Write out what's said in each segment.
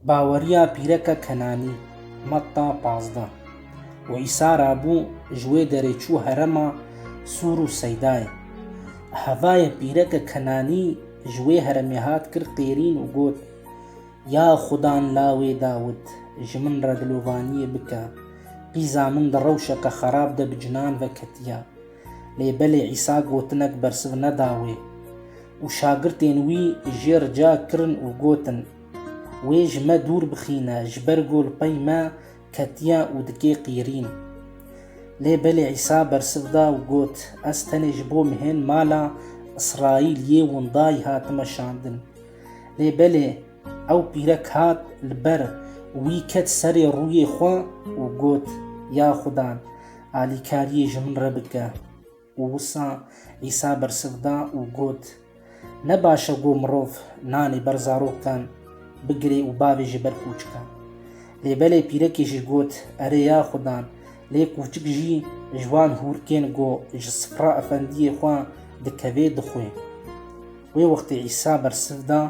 Baweriya pîreke Kenanî, Matta pazdeh û Îsa ra bû ji wê derê çû herema Sûr û Seydayê. Hevayê pîreke Kenanî ji wê heremê hat kir qêrîn û got, Ya Xudan lawê Dawid, ji min re dilovaniyê bike, qîza min di rewşeke xerab de bi cinan ve ketiye. Lê belê Îsa gotinek bersiv neda wê û şagirtên wî jê rica kirin û gotin, Wê ji me dûr bixîne, ji ber ku li pey me ketiye û dike qîrîn. Lê belê Îsa bersiv da û got, Ez tenê ji bo mehên mala Îsraîliyê windayî hatime şandin. Lê belê ew pîrek hat li ber wî ket serê rûyê xwe û got, Ya Xudan! Alîkariyê ji min re bike. Û wisa Îsa bersiv da û got, Ne baş e ku mirov nanê ber zarokan bigire û bavê ji ber kûçikan. Lê belê pîrekê jî got, Erê ya Xudan, lê kûçik jî ji wan hûr kên ku ji sifra efendiyê xwe dikevê dixwe. Wê wextê Îsa bersiv da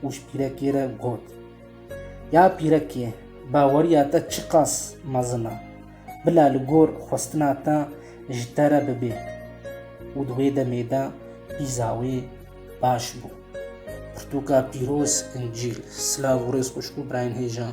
û ji pîrekê re got, Ya pîrekê, baweriya te çiqas mezin e! Bila li gor xwestina te ji te re bibe û di wê demê de pîza wê baş bû. Pirtûka pîroz, Încîl. Silav û rêz xwişk û birayên hêjan.